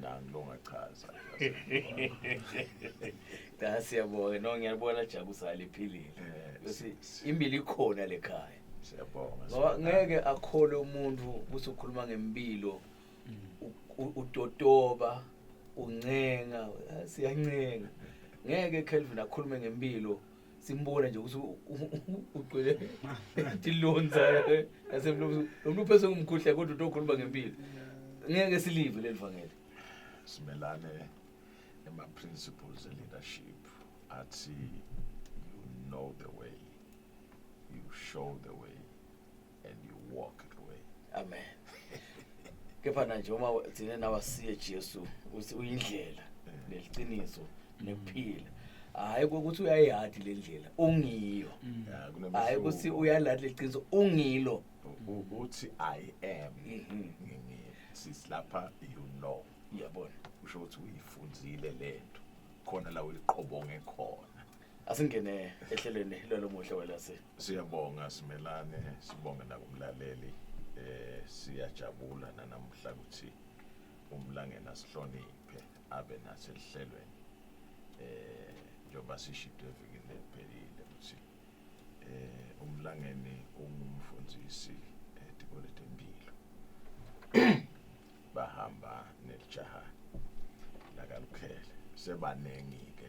nangilongachaza da siyabonga no ngiyalibona jabusa liphilile eh, bese imbili ikhona lekhaya siyabonga ngoba ngeke akhole umuntu usukhuluma ngempilo mm. utotoba uncenga siyancenga ngeke Kelvin akhulume ngempilo simbona nje ukuthi ugcwele ngathi lonza nasemlomo lo mntu uphese ngumkhuhle kodwa uthi okhuluma ngempilo ngeke silive leli vangeli simelane ema-principles e-leadership athi you know the way you show the way and you walk it away amen kepha nanje uma thina nawa siye Jesu uthi uyindlela neliqiniso nekuphila hayi ukuthi uyayihadi le ndlela ungiyo mm. hayi ukuthi uyaladi leqiniso ungilo uthi i am mm-hmm. ngingisi lapha you know uyabona usho ukuthi uyifundile lento khona la uyiqobonge khona asingene ehlelweni lwalo muhle welase siyabonga simelane sibonge nakumlaleli eh siyajabula nanamhla ukuthi umlangena sihloniphe abe nasehlelweni eh njengoba sishito evikini eliphelile ukuthi eh umlangeni ungumfundisi etikole tempilo bahamba nelijaha lakalukhele sebaningi ke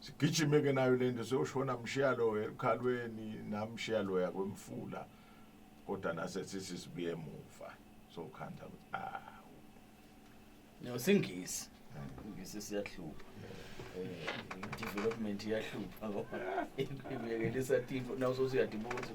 sigijime ke nayo lento soyoshona mshiya loya ekhalweni namshiya loya kwemfula kodwa nase sithi sibuye emuva sokhanda ah no singisi ngisi siyahlupha eh development iyahlupha ngoba ibekelisa timo nawo sosiyadibuza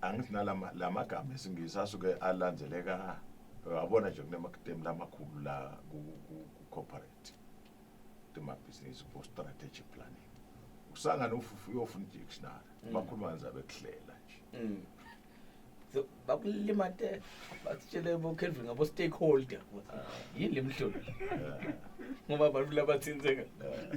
angithi nalamagama esingisi asuke alandzeleka abona nje kunemakitemu lamakhulu la ku-corporate temabhizinisi ku-strategic planning usangane ufufu uyofuna i-dictionary mm. bakhuluma nje abekuhlela nje mm. bakulimate bakutshele bokelvin ngabo-stakeholder ah. yini le mhlolo ah. ngoba abantu labathinzeka ah.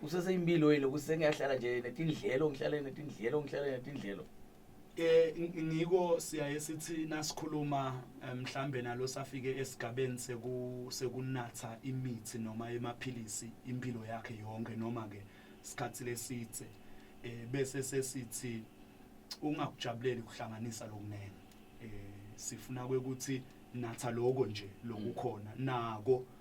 kuseseyimpilo yini ukuthi sengiyahlala nje netindlelo ngihlale netindlelo ngihlale netindlelo eh ngiko siyaye sithi nasikhuluma eh, mhlambe nalo safike esigabeni seku sekunatha imithi noma emaphilisi impilo yakhe yonke noma ke isikhathi lesithe eh bese sesithi ungakujabuleli ukuhlanganisa lokunene eh sifuna ukuthi natha lokho nje lokukhona nako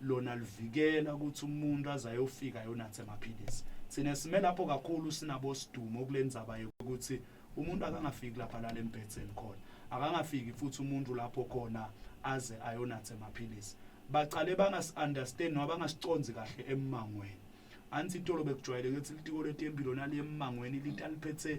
lona livikela ukuthi umuntu aze ayofika yonathe amaphilisi thina sime lapho kakhulu sinabo sidumo kule ndzaba yokuthi umuntu akangafiki lapha lale mbhetheni khona akangafiki futhi umuntu lapho khona aze ayonathe amaphilisi baqale bangasi-understand noma bangasiconzi kahle emmangweni anti itolo bekujwayeleke ukuthi litiko letempilo naliyemmangweni lithi aliphethe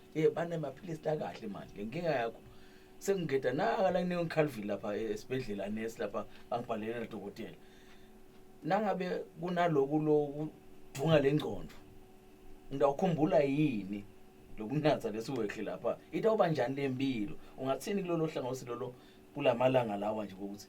Eh bane maphilisi la kahle manje. Lenkinga yakho sengigeda naka la ngine Calvin lapha eh, esibedlela nesi lapha angibhalele la dokotela. Nangabe kunaloku loku dunga lengcondo. Ngidawukhumbula yini lokunatha lesiwehle lapha? Itawuba njani lempilo? Ungathini kulolo hlangothi lolo kulamalanga lawa nje ukuthi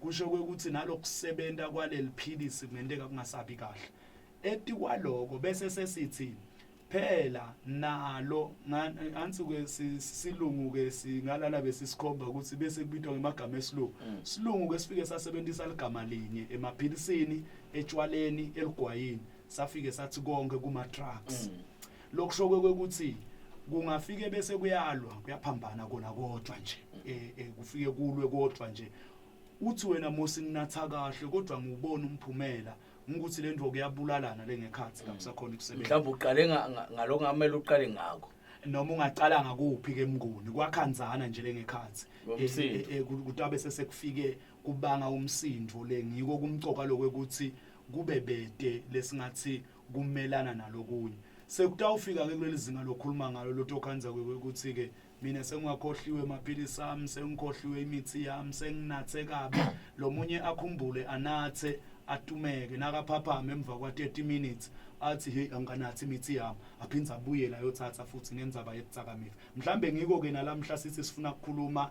kusho kwekuthi nalokusebenta kwaleli philisi kungenteka kungasabi kahle eti kwaloko bese sesithi phela nalo ansuke silungu ke singalala besisikhomba ukuthi bese kubitwa ngemagama esilungu mm. silungu ke sifike sasebenzisa ligama linye emaphilisini etshwaleni eligwayini safike sathi konke kuma trucks mm. lokusho kwekuthi kungafike bese kuyalwa kuyaphambana kona kodwa nje eh, eh kufike kulwe kodwa nje uthi wena Mosi nginatha kahle kodwa ngubona umphumela ukuthi lento kuyabulalana lengekhathi mm. kakusakhona ukusebenza mhlawumbe uqale ngaloko ngamele uqale ngako noma ungaqala ngakuphi ke mnguni kwakhanzana nje lengekhathi eh, eh, eh, kutabe sesekufike kubanga umsindo le ngiko kumcoka lokwe ukuthi kube bede lesingathi kumelana nalokunye sekutawufika ke kuleli zinga lokhuluma ngalo lotokhanza ukuthi ke mina sengwakhohliwe amaphilisi ami sengikhohliwe imithi yami senginathe kabi lo munye akhumbule anathe atumeke nakaphaphama emva kwa 30 minutes athi hey angikanathi imithi yami aphinde abuyele ayothatha futhi ngenzaba yekutsakamiva mhlambe ngiko ke nalamhla sithi sifuna ukukhuluma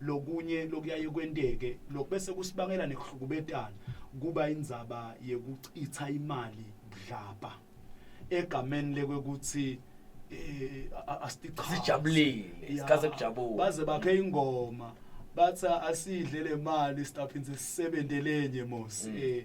lokunye lokuyaye kwenteke lokhu bese kusibangela nekuhlukubetana kuba indzaba yekuchitha imali budlabha egameni lekwekuthi eh a- asichithe sijabulile Ya. sikhathi kujabula baze bakhe ingoma bathi asidle le mali sitaphinde sisebenze lenye mos eh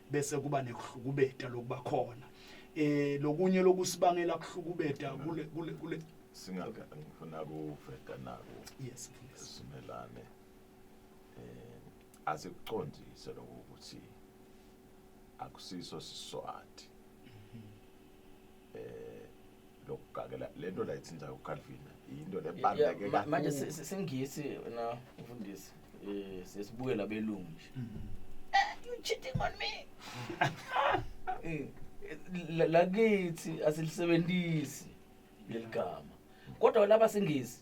bese kuba nekuhlukubeta lokuba khona eh lokunye lokusibangela kuhlukubeta kule kule kule singaka ngifuna kuveta nako yes please simelane eh asikuqondise lokuthi akusiso siswati eh lokugakela lento la ithinta uCalvin into lebaluleke Yeah, ma- kakhulu manje si- si- singisi na mfundisi eh sesibuke labelungu nje Mhm. Eh, you cheating on me Eh, la- lakithi asilisebenzisi leligama kodwa laba singisi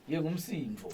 ye ngumsindvo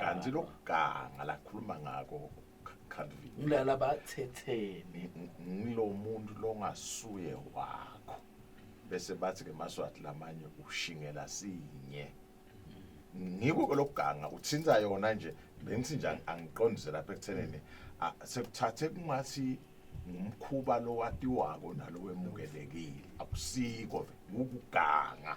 kanti lokuganga lakhuluma ngako Calvin ngilala bathethene ngilomuntu longasuye wakho bese bathi ke maswati lamanye ushingela sinye ngiko ke lokuganga uthinta yona nje bengithi nje angiqondise lapha ekutheneni sekuthathe kungathi ngumkhuba lowatiwako nalowemukelekile akusiko ukuganga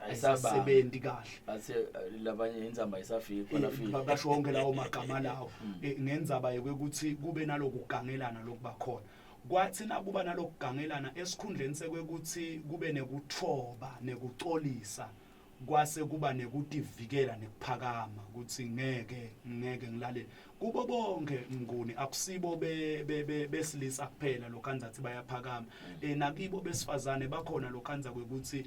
ayisasebenzi kahle athe eh, labanye inzamba isafika khona eh, fika basho wonke lawo magama lawo hmm. eh, ngenzaba yokuthi kube nalokugangelana lokubakhona kwathi nakuba nalokugangelana esikhundleni sekwekuthi kube nekuthoba nekucolisa kwase kuba nekutivikela nekuphakama ukuthi ngeke ngeke ngilalele kubo bonke nguni akusibo besilisa kuphela lokhanza athi bayaphakama mm. eh nakibo besifazane bakhona lokhanza kwekuthi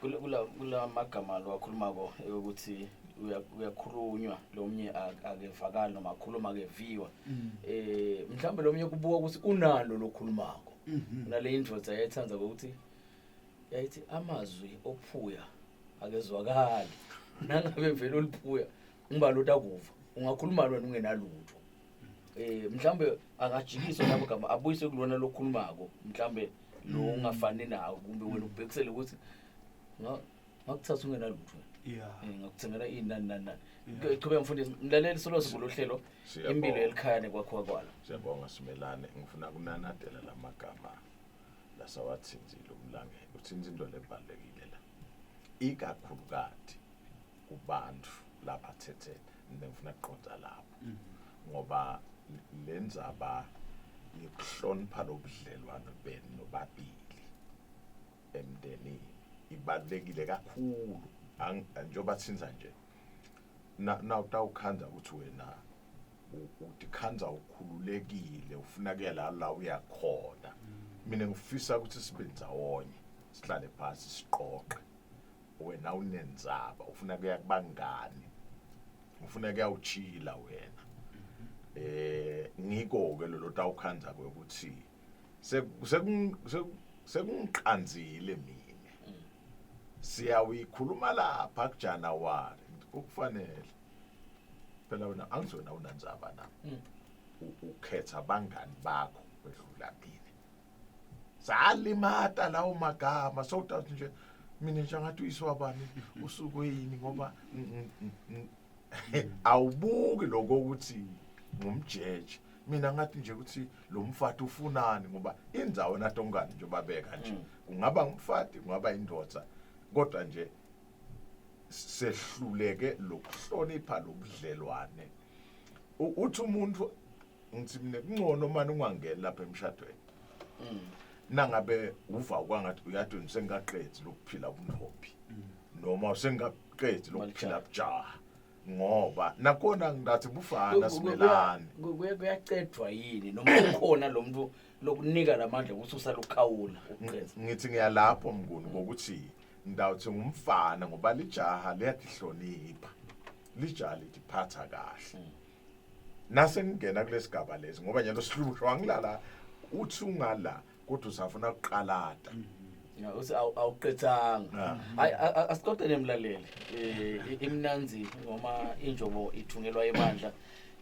kula magama lo akhulumako ukuthi uyakhulunywa lomnye akevakali noma akhuluma akeviwa mm. eh mhlawumbe lomnye kubuka ukuthi unalo lokhulumako mm-hmm. nale indoda yayithanda ukuthi yayithi amazwi ophuya akezwakali nangabe vele uliphuya ngiba lota kuva ungakhuluma lona ungenalutho eh mhlambe akajikiswe lapho gama abuyise kulona lokhulumako mhlambe lo mm. ungafani nawo kumbe wena ubhekisele ukuthi ngakuthatha ungenalutho yeah eh, ngakuthengela ini nani nani nani iqhubeka mfundisi mlaleli solo sikulo hlelo impilo elikhaya nekwakho kwala siyabonga simelane ngifuna kunanadela lamagama lasawathinzile umlangeni uthinza into lebalekile la ikakhulukati kubantu labathethe nengifuna kuqonda lapho mm. ngoba le ndzaba yokuhlonipha lobudlelwano benu nobabili emndenini ibalulekile kakhulu njengoba sinza nje nawutawukhandza ukuthi wena utikhandza ukhululekile ufuna kuya la la uyakhona mm. mina ngifisa ukuthi sibe ndzawonye sihlale phasi siqoqe wena unenzaba ufuna kuya kubangani ufuna kuyawuchila wena eh ngiko ke lolo tawukhanza kwe ukuthi sekungiqanzile mina siyawikhuluma lapha kuJanuary ukufanele phela wena angizona unanzaba na ukhetha bangani bakho kwedlula mina salimata lawo magama so that nje mina nje angathi uyiswabani usuke yini ngoba awubuki lokho ukuthi ngumjeje mina ngathi nje ukuthi lo mfati ufunani ngoba inzawo natongani nje babeka nje mm. kungaba umfati kungaba indoda kodwa nje sehluleke lokuhlonipha lobudlelwane uthi umuntu ngithi mina kuncono mani ungangeni lapha emshadweni mm. nangabe uva kwangathi uyathi ngisengaqedi lokuphila ubuntombi mm. noma usengaqedi lokuphila bujaha ngoba nakona ngathi bufana simelane kuyacedwa yini noma ukhona lo muntu lokunika lamandla ukuthi usalukhawula ngithi ngiyalapho mnguni ngokuthi ngidawuthi ngumfana ngoba lijaha liyahlonipha lijaha lithiphatha kahle mm. nase ngingena kulesigaba lesi ngoba nyalo sihlushwa wangilala uthi ungala kodwa usafuna kuqalada mm. Ya, uthi awu- awuqedanga Ah. hayi a- a- asixoxele mlaleli um imnanzi noma injobo ithungelwa ebandla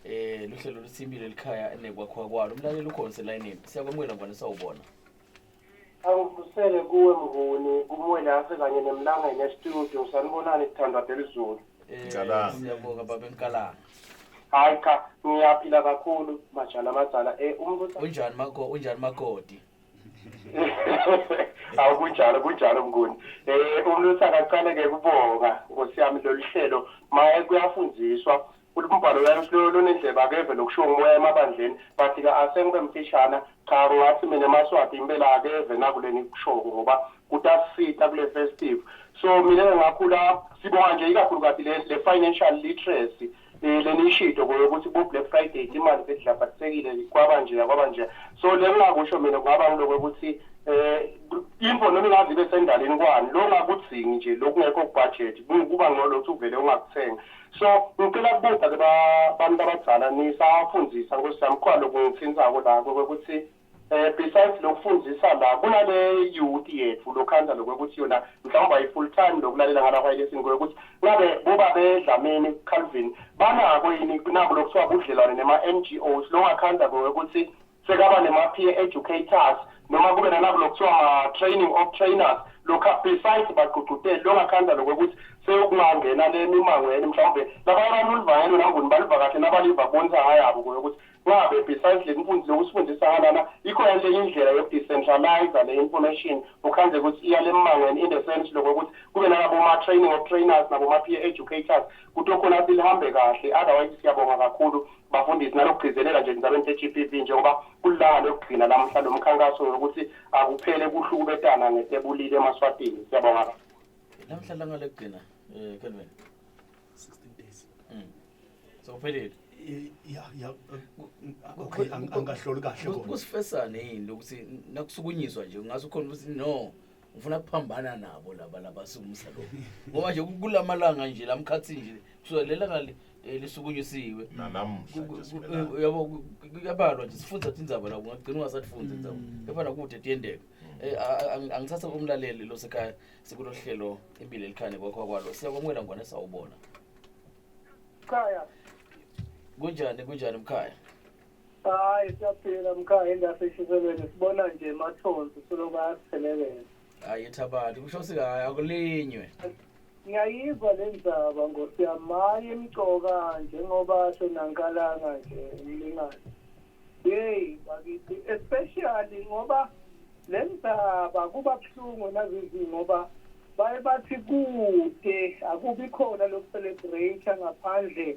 um luhlelo luthimile likhaya nekwakhiwa kwalo umlaleli ukhona selayinini siyakwamukela ngwane sawubona Angibusele kuwe Mnguni, kuMwelase kanye neMlangeni estudio. Sanibonani kuthandwa delizulu. Eh, Ngicabanga. Siyabonga baba enkalanga. Hayi cha, ngiyaphila kakhulu majana amadzala. Eh umbuso Unjani mako unjani makoti? Awu kunjalo kunjalo Mnguni. Eh umlusa akaqale ke kubonga Nkosi yami lolu hlelo maye kuyafundiswa Uthi umbhalo uyaye uhlolo lunendlebe akeve lokushiwo ngumoya emabandleni but ke ase ngibe mfishana cha ngathi mina emaswati impela akeve nakule ngikushoko ngoba kutasisita kule festive so mina ke ngakhula sibonga nje ikakhulukazi le, le financial literacy eh, leniyishito koyokuthi bo Black Friday imali bedlabhatisekile kwaba nje kwaba nje so lengingakusho mina kungaba ngiloko ukuthi eh info noma ingaze ibe sendaleni kwani lo ngakudzingi nje lokungekho kubudget kuba ngcono ukuthi uvele ungakuthenga So ngicela kubuza ke babantu abadzala nisafundisa nkosi yami khona lokungithintsako la kokuthi eh besides lokufundisa la kunale youth yethu lokhanda lokuthi yona mhlawumbe ayi full time lokulalela ngala kwa lesson kokuthi ngabe boba bedlameni Calvin banako yini kunabo lokuthiwa budlelwane nema NGOs longakhanda kokuthi sekaba nema-peer educators noma kube nalabo lokuthiwa ma-training of trainers lokhu besides bagqugquteli longakhandla lokho ukuthi seyokungangena le mimangweni mhlawumbe labanye abantu ulivangelo nanguni baliva kahle nabaliva bonisa ngayabo kuyo ukuthi ngabe besides le mfundisi lokusifundisa ngalana ikho yale indlela yokudecentralize le information ukhandle ukuthi iyale mimangweni in the sense lokho ukuthi kube nalabo ma-training of trainers nabo ma-peer educators kuthiwe khona lihambe kahle otherwise siyabonga kakhulu bafundisi nalokugcizelela nje endabeni se-GBV njengoba kulilanga lokugcina lamhla lo mkhankaso ngokuthi akuphele kuhlukubetana ngetebulile emaswatini siyabonga kakhulu lamhla langa lokugcina um kelvin 16 days mm. so kuphelile ya ya okay angahloli kahle kusifesane yini lokuthi nakusukunyiswa nje ngathi ukhona ukuthi no ngifuna kuphambana nabo laba labasumsa lo ngoba nje kulamalanga nje lamkhathi nje kusuka lelanga li- eh, lisukunyusiwe nanamuhla nje simelana. Eh, uyabo ku- ku- kuyabalwa nje sifundza tindzaba la ungagcina ungasatfundzi indzaba kepha nakude tiyenteka Eh, a- a- ang- angithatha umlaleli losekhaya sikulo hlelo impilo elikhane kwakho kwalo siyakwamukela ngwane sawubona Khaya, kunjani kunjani mkhaya hayi siyaphila mkhaya indase ishiselweni sibona nje mathonsi soloku ayasiphelelela hayi thabani kusho sikayi akulinywe ngiyayizwa le ndaba nkosi yami hayi emcoka njengoba senankalanga nje umlingane yeyi bakithi especially ngoba le ndaba kuba buhlungu nazizi ngoba baye bathi kude akubi khona lokucelebrate ngaphandle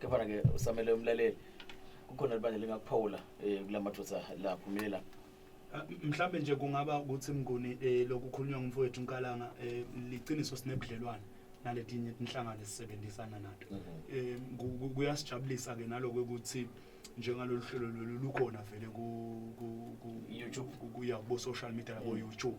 kepha ke usamele umlaleli kukhona libandla lingakuphawula um kula madoda la phumile la ah, mhlawumbe nje kungaba ukuthi mnguni um lokukhulunywa ngumfowethu unkalanga um liciniso sinebudlelwane naletinye inhlangano esisebenzisana nato um kuyasijabulisa ke naloko ukuthi njengalolu hlelo lolu lukhona vele ku-youtube kuya kubo-social media labo-youtube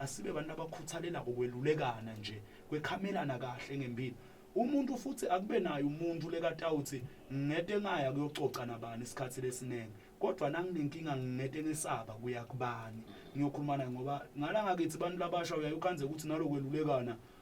asibe bantu abakhuthalela kokwelulekana nje kwekhamelana kahle ngempilo umuntu futhi akube naye umuntu lekatawuthi ngete ngaya kuyococa nabani isikhathi lesiningi kodwa nanginenkinga ngingete ngesaba kuya kubani ngiyokhuluma naye ngoba ngala ngakithi abantu labasha uyaye ukhanze ukuthi nalokwelulekana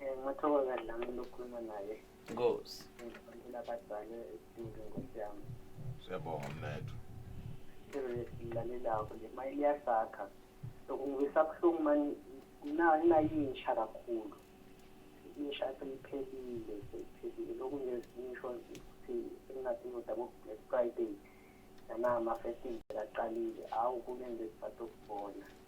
Eh, ngathokoza la muntu okhuluma naye nkosi ngifundela abadala esidingo nkosi yami siyabonga mnethu esilalelako le mali liyasakha lokungisa buhlungu mani nayintsha kakhulu insha seyiphelile seyiphelile lokhu ngisho ukuthi engingathini ukuthi abo-black friday nanama-festival aqalile awu kunento esisatokubona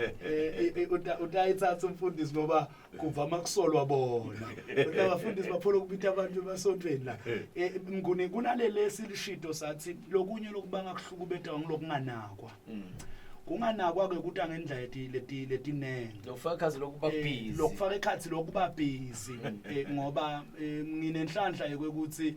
Eh, eh, eh, utayithatha umfundisi ngoba kuvama kusolwa bona kodwa abafundisi baphola ukubitha abantu emasontweni la mnguni kunalelesi lishido sathi lokunye lokubanga kuhlukubetha ngilokunganakwa mm. kunganakwa ke ukuthi angendla leti leti letinenge lokufaka ikhathi lokuba eh, busy lokufaka ikhathi lokuba busy eh, ngoba eh, nginenhlanhla yokuthi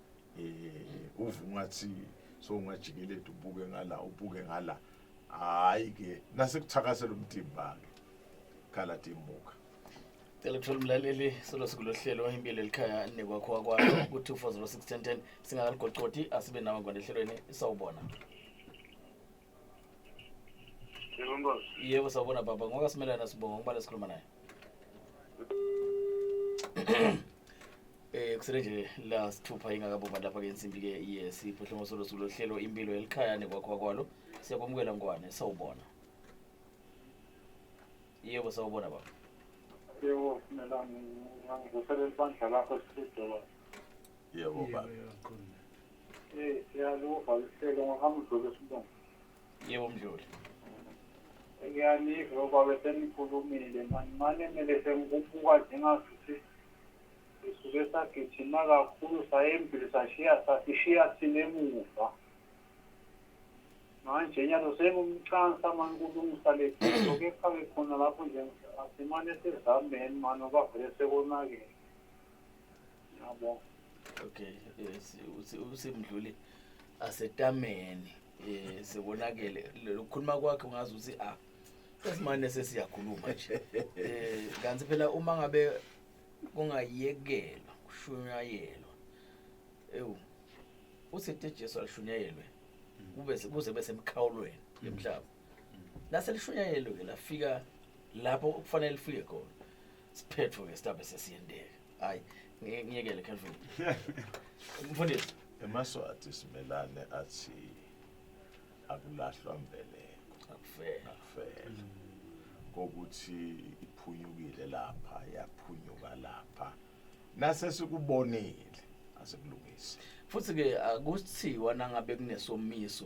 eh uvu ngathi so ungajikeleda ubuke ngala ubuke ngala hayi ke nasekuthakasela umtimba ke khala timbuka cela kuthola umlaleli solo sikulo hlelo impilo elikhaya nekwakho wakwakho ku-two four zero six ten ten singakaligocoti asibe nawe ngwane ehlelweni sawubona yebo sawubona baba ngoka simelana sibonga ngibale sikhuluma naye Eh kusele nje la sithupha ingakabomba lapha ke insimbi ke yes iphuhlungu solo sulohlelo impilo elikhaya nekwakho kwalo siyakwamukela ngwane sawubona Yebo sawubona baba Yebo mina ngizoselela ibandla lakho sidola yebo baba Eh, siyaluva luhlelo ngokamdluli sibonga. yebo mdluli Ngiyaniva baba senikhulumile mani mane mele sengikubuka njengasuthi sisuke sagijima kakhulu sayembili sashiya sasishiya thina emuva. Manje nyalo sengumcansa mani kulungisa le photo kepha ke khona lapho nje asimane sizameni mani ngoba vele sekonakele. okay yes usemdluli asetameni eh sibonakele lokukhuluma kwakhe ungazi ukuthi a ah, esimane sesiyakhuluma nje eh kanti phela uma ngabe kungayekelwa kushunyayelwa ewu usithi Jesu alishunyayelwe kube kuze besemkhawulweni yomhlaba lase lishunyayelwe lafika lapho kufanele lifike khona siphethu ke stabe sesiyendeka hayi ngiyekele Kelvin mfundisi emaswati simelane athi akulahlwa mbeleko akufela akufela kokuthi iphunyukile lapha yaphunyuka lapha nase sikubonile asikulungisi futhi ke akuthiwa nangabe kunesomiso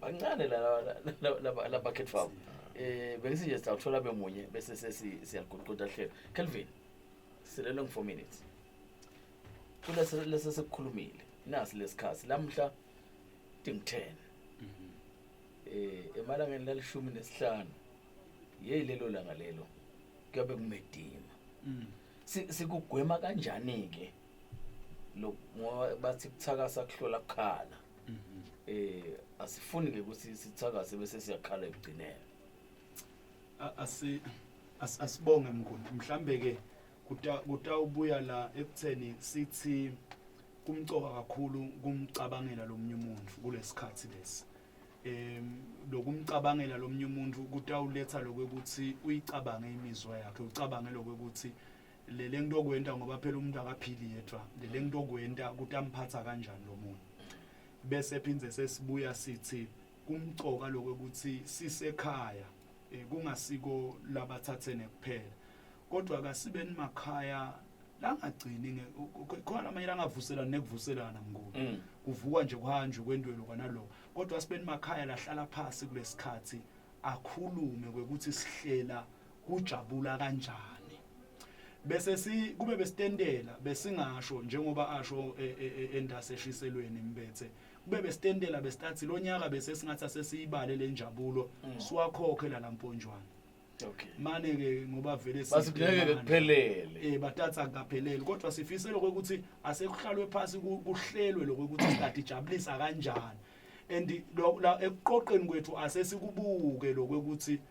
bancane labakhethi fam um eh, bengisinje sawuthola bemunye bese sesiyaguquda hlelo kelvin silelwe ngi-four minutes kulesi sekukhulumile nasi lesikhathi lamhla ting ten um mhm. eh, emalangeni lalishumi nesihlanu yeyi lelo langa lelo kuyobe kumedima mm. sikugwema kanjani-ke si lo ngoba bathi kuthakasa kuhlola kukhala mhm. eh asifuni ke ukuthi sithakase bese siyakhala ekugcineni asi asibonge mkhulu mhlambe ke kutawubuya la ekutheni sithi kumcoka kakhulu kumcabangela lomunye umuntu kulesikhathi lesi em lokumcabangela lomunye umuntu kutawuletha lokuthi uyicabange imizwa yakhe ucabange lokuthi le le nto okwenta ngoba phela umuntu akaphili yedwa le le nto okwenta ukuthi amphatha kanjani lo muntu bese phinde sesibuya sithi kumcoka lokho ukuthi sisekhaya eh, kungasiko labathathene kuphela kodwa kasibe nimakhaya langagcini khona amanye langavuselana nekuvuselana mnguni mm. kuvukwa nje kuhanjwe kwendwelo kwanaloko kodwa sibe nimakhaya lahlala phasi kulesikhathi akhulume kwekuthi sihlela kujabula kanjani bese si kube besitendela besingasho njengoba asho e, e, e, endase eshiselweni mbethe kube besitendela besitathi lonyaka bese singathi asesiyibale lenjabulo mm. siwakhokhe la lamponjwana okay mane ke ngoba vele basibuleke kuphelele eh batatha akaphelele kodwa sifise lokho ukuthi asekuhlalwe phansi kuhlelwe lokho ukuthi start ijabulisa kanjani and ekuqoqeni kwethu asesikubuke lokho ukuthi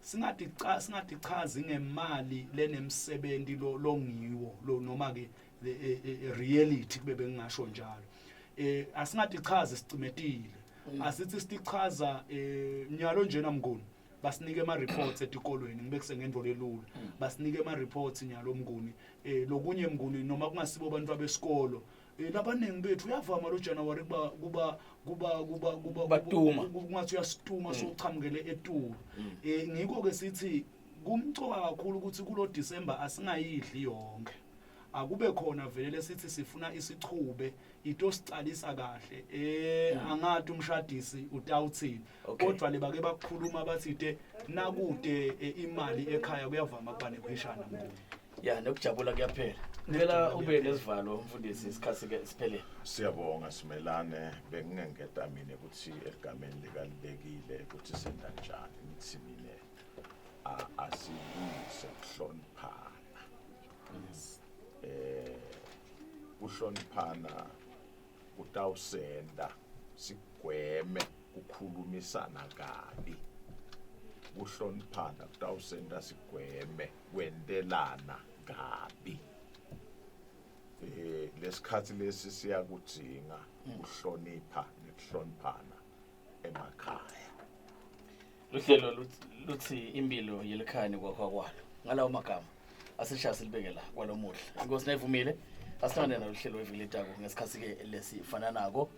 singathi cha singathi chazi ngemali lenemsebenzi lo longiwo lo noma ke e, e, e, reality kube bengingasho njalo eh asingathi chazi sicimetile mm. asithi sichaza eh nyalo njena mnguni basinike ama reports etikolweni ngibe kusengendvo lelula mm. basinike ama reports nyalo mnguni eh lokunye mnguni noma kungasibo abantu abesikolo Eh, labaningi bethu uyavama lo January kuba kuba kuba kuba kuba Batuma. ku- kungathi uyasituma sochamukele etulu eh ngikho ke sithi kumcoka kakhulu ukuthi kulo December asingayidli yonke akube khona vele lesithi sifuna isichube into sicalisa kahle eh angathi umshadisi utawuthini Okay. kodwa le bake bakukhuluma bathi te nakude eh, imali ekhaya kuyavama kuba nekhweshana mkhulu ya nokujabula kuyaphela ngicela ube nesivalo mfundisi isikhathi ke siphelele siyabonga simelane bengingengeda mina ukuthi egameni likalibekile ukuthi senza njani ngithi mina a- asilungise kuhloniphana eh kuhloniphana kutawusenda sigweme kukhulumisana kabi kuhloniphana kutawusenda sigweme kwentelana kabi eh lesikhathi lesi siyakudinga ukuhlonipha nokuhloniphana emakhaya uhlelo luthi impilo yelikhani kwakho kwalo ngalawo magama asishaya silibeke la kwalomuhle inkosi nayivumile asithande nalo hlelo weviletako ngesikhathi-ke lesi fana nako